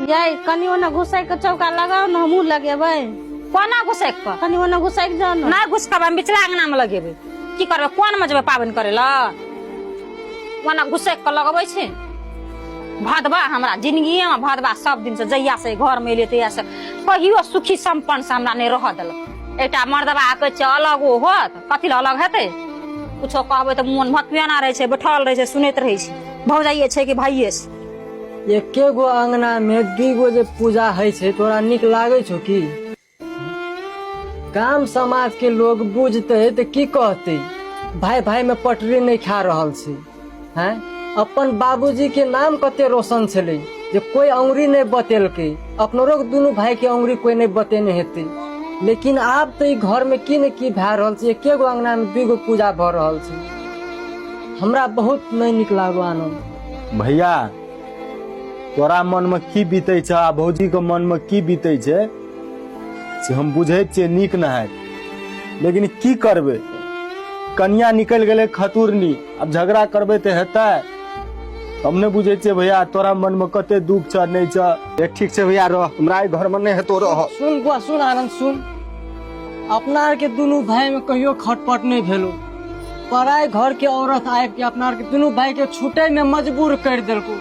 यै कनि ओने घुसै के चौका लगाओ ने हमहूँ लगेबै कोना घुसैक कऽ कनि ओने घुसै के जाओ ने नहि घुसकब हम बिचला अंगना मे लगेबै की करबै कोन मे जेबै पाबनि करै लए ओना घुसैक कऽ लगबै छै भदबा हमरा जिंदगिये मे भदबा सब दिन से जहिया से घर मे एलियै तहिया से कहियो सुखी संपन्न से हमरा नहि रहऽ देलक एकटा मर्दबा कहै छै अलग ओ होत कथी लए अलग हेतै कुछो कहबै तऽ मोन भतुएना रहै छै बैठल रहै छै सुनैत रहै छै भौजाइये छै कि भाइये छै एके गो अंगना में दी गो जे पूजा है छे तोरा निक लागे छो की गाम समाज के लोग बुझते तो की कहते भाई भाई में पटरी नहीं खा रहा से हैं अपन बाबूजी के नाम कते रोशन छे जे कोई अंगुरी नहीं बतेल के अपनो रोग दोनों भाई के अंगुरी कोई नहीं बतेने हेते लेकिन आब तो घर में की न की भा रहा से एके गो अंगना में दू गो पूजा भ रहा से हमरा बहुत नहीं निक लागो आनंद भैया तोरा मन में की बीते छ आ भौजी के मन में की बीते छै से हम बुझे छियै नीक न है लेकिन की करबे कनिया निकल गेले खतुरनी अब झगड़ा करबे ते हेतै हम ने बुझे छियै भैया तोरा मन में कते दुख छ नहीं छ ए, ठीक छै भैया रह हमरा एहि घर में नहीं हेतो रह सुन बुआ सुन आनन्द सुन अपना आरके दुनू भाइमे कहियो खटपट नहि भेलो पराय घर के औरत आबि के अपना आरके दुनू भाई के छूटे में मजबूर कर देलको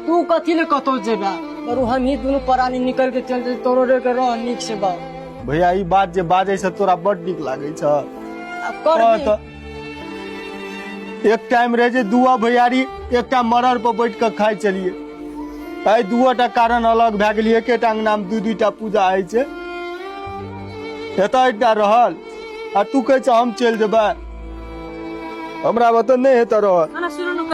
तू कथी ले कतौ जेबा और हमही दुनू परानी निकल के चल जाए तोरो रे के रह नीक से बा भैया ई बात जे बाजै छ तोरा बड नीक लागै छ अब कर कह दी। त एक टाइम रहे जे दुआ भैयारी एकटा मरर पर बैठ के खाइ चलिए एहि दुआटा कारण अलग भए गेलिए एकेटा अंगना मे दू दूटा पूजा होइ छै एतऽ एकटा रहल आ तू कहै छ हम चलि जेबै हमरा वतन नहि हेतै रहत